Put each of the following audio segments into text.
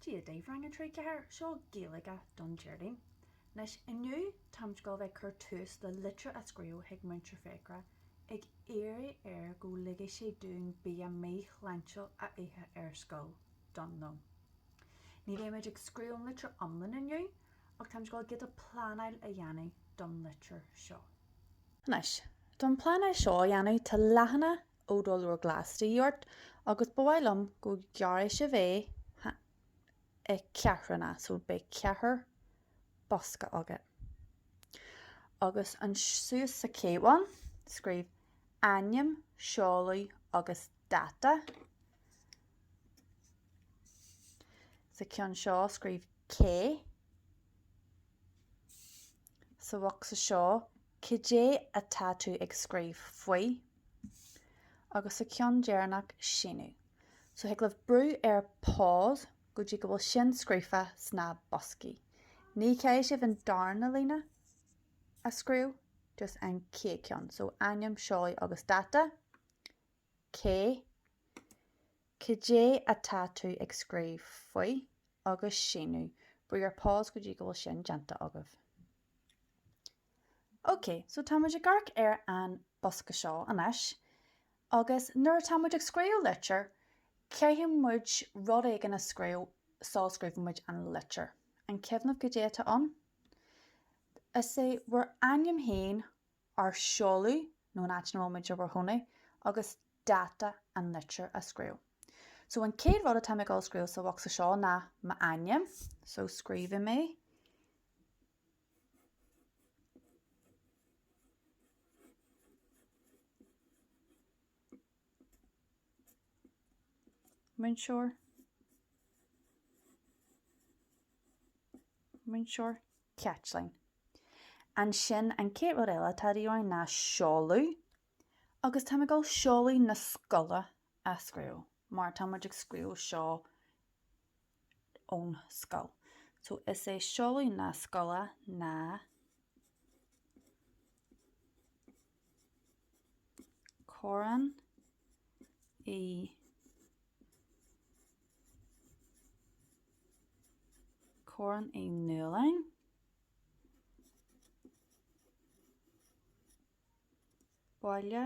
Dia daoibh Rang 3, 4, seo Gaeilge don Déardaoin. Anois, inniu táimid ag dul a bheith cur tús le litir a scríobh chuig múinteoir Fiachra ag iarraidh air go ligfidh sé dúinn bia mí-shláintiúil a ithe ar scoil don lón. Ní bheidh muid ag scríobh an litir iomlán inniu ach táimid ag dul giota pleanáil a dhéanamh don litir seo. Anois, don pleanáil seo a dhéanamh tá leathanach ó do leabhar glas de dhíth ort agus ba mhaith liom go gearrfaidh sibh é i ceathrúna so beidh ceathair bosca againn. Agus an suas sa chéad cheann, scríobh ainm, seoladh agus dáta. Sa ceann seo, scríobh cé. Sa bhocsa seo, Cad é atá tú ag scríobh faoi? Agus sa cheann deireanach, síniú. So thig libh brú ar pause go dtí go bhfuil sin scríofa sna boscaí. Ní chaithfidh sibh an darna líne a scríobh, just an chéad cheann. So ainm, seoladh agus dáta. Cé, Cad é atá tú ag scríobh faoi? Agus síniú. Brú ar pause go dtí go bhfuil sin déanta agaibh. Ok, so tá muid ag amharc ar an bosca seo anois agus nuair atá muid ag scríobh litir, caithfidh muid rud éigin a scríobh sula scríobhann muid an litir. An cuimhin libh cad é atá ann? Is é bhur ainm féin, ár seoladh nó an áit ina bhfuil muid i bhur chónaí agus dáta an litir a scríobh. So an chéad rud atá mé ag dul scríobh sa bhocsa seo ná m'ainm, so scríobhfaidh mé. múinteoir múinteoir Caitlín. Ansin an céad rud eile atá de dhíth orainn ná seoladh agus tá mé ag dul seoladh na scoile a scríobh mar tá muid ag scríobh seo ón scoil so is é seoladh na scoile ná Corrán Corrán Uí Nualláin Baile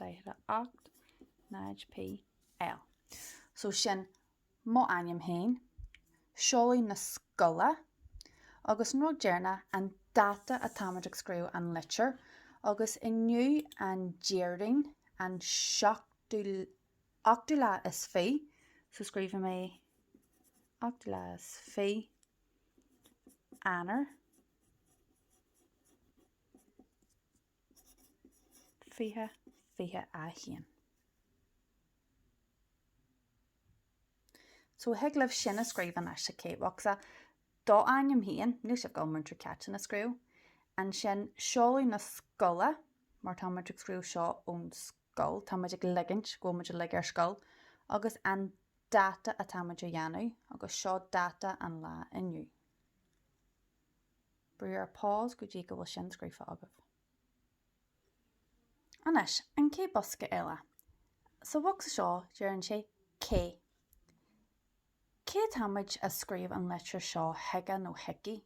48 0PL so sin mo ainm féin, seoladh na scoile agus an rud deireanach an dáta atáimid ag scríobh an litir agus inniu an Déardaoin an seachtú ochtú lá is fiche so scríobhfaidh mé ochtú lá is fiche Eanáir, 20, 21. So thig libh sin a scríobh anois, OK, scríobh do ainm féin, níl sibh ag gabháil Múinteoir Caitlín a scríobh, ansin seoladh na scoile, mar tá muid ag scríobh seo ón scoil, tá muid ag ligint orainn go bhfuil muid uilig ar scoil, agus an dáta atá muid a dhéanamh, agus seo dáta an lá inniu. Brúigh ar pause go dtí go bhfuil sin scríofa agaibh. Anois, an chéad bosca eile. Sa bhocsa seo, deireann sé Cé. Cé atáimid a scríobh an litir seo chuige nó chuici?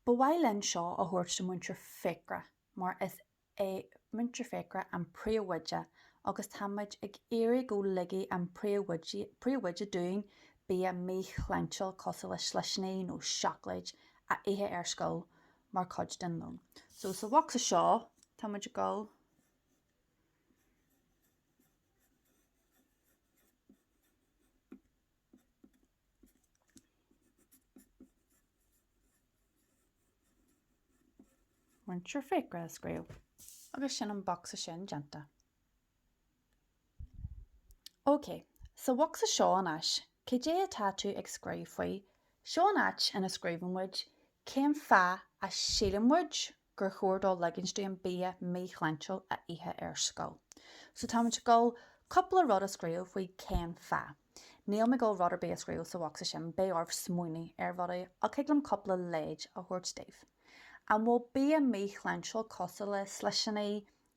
Ba mhaith linn seo a thabhairt do Múinteoir Fiachra mar is é Múinteoir Fiachra an príomhoide agus tá muid ag iarraidh go ligfidh an príomhoide dúinn bia míshláintiúil cosúil le slisíní nó seacláid a ithe ar scoil mar chuid den lón. So sa bhocsa seo tá muid ag dul Múinteoir Fiachra a scríobh agus sin an bocsa sin déanta. OK, sa bhocsa seo anois, cad é atá tú ag scríobh faoi, seo an áit ina scríobhann muid cén fáth a síleann muid go. gur chóir dó ligint dúinn bia míshláintiúil a ithe ar scoil. So táimid ag dul cúpla rud a scríobh faoi cén fáth. Níl mé ag dul rud ar bith a scríobh sa bhocsa sin, beidh oraibh smaoineamh ar rudaí ach thig liom cúpla leid a thabhairt daoibh. An bhfuil bia míshláintiúil cosúil le slisíní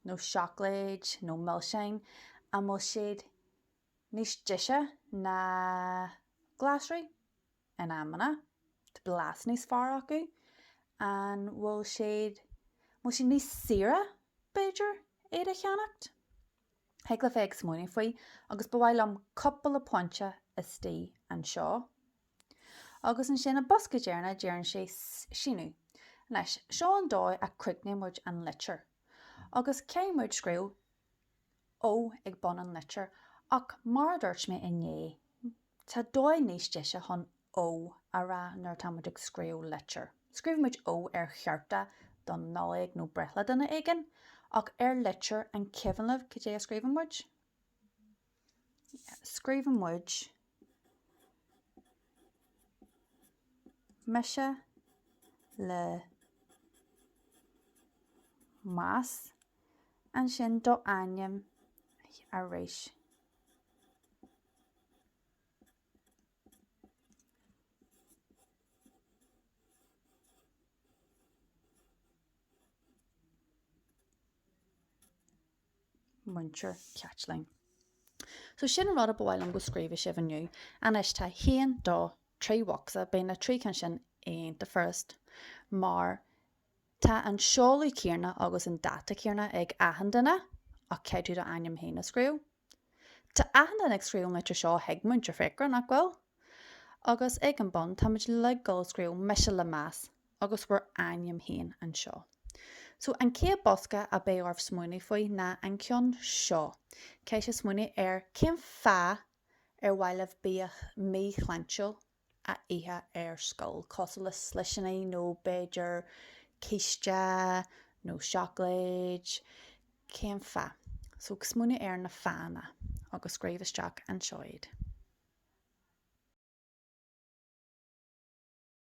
nó seacláid nó milseáin, an bhfuil siad. níos deise ná glasraí in amanna, tá blas níos fearr acu, an bhfuil siad, an bhfuil siad níos saoire, b'fhéidir, iad a cheannacht? Thig libh a bheith ag smaoineamh faoi agus ba mhaith liom cupla pointe istigh anseo. Agus ansin an bosca deireanach deireann sé Síniú. Anois, seo an dóigh a gcríochnaíonn muid an litir. Agus thig muid scríobh ó ag bun an litir, ach mar a dúirt mé inné, tá dóigh níos deise chun "ó" a rá nuair atá muid ag scríobh litir. Scríobhann muid "ó" ar chárta don Nollaig nó breithlá duine éigin, ach ar litir, an cuimhin libh cad é a scríobhann muid? Scríobhann muid, mise le meas, ansin do ainm arís. Múinteoir Caitlín. So sin an rud a ba mhaith liom go scríobhadh sibh inniu. Anois tá haon, dó, trí bhocsa, beidh na trí cinn sin ar nós an first mar tá an seoladh céanna agus an dáta céanna ag achan duine ach caithfidh tú do ainm féin a scríobh. Tá achan duine ag scríobh an litir seo chuig Múinteoir Fiachra, nach bhfuil? Agus ag an bun tá muid uilig ag scríobh mise le meas agus bhur ainm féin anseo. So, an chéad bhocsa a bheidh oraibh smaoineamh faoi ná an ceann seo, caithfidh sibh smaoineamh ar cén fáth ar mhaith libh bia mí-shláintiúil a ithe ar scoil, cosúil le slisíní nó b'fhéidir císte nó seacláid, cén fáth? So, smaoinigh ar na fáthanna agus scríobh isteach anseo iad.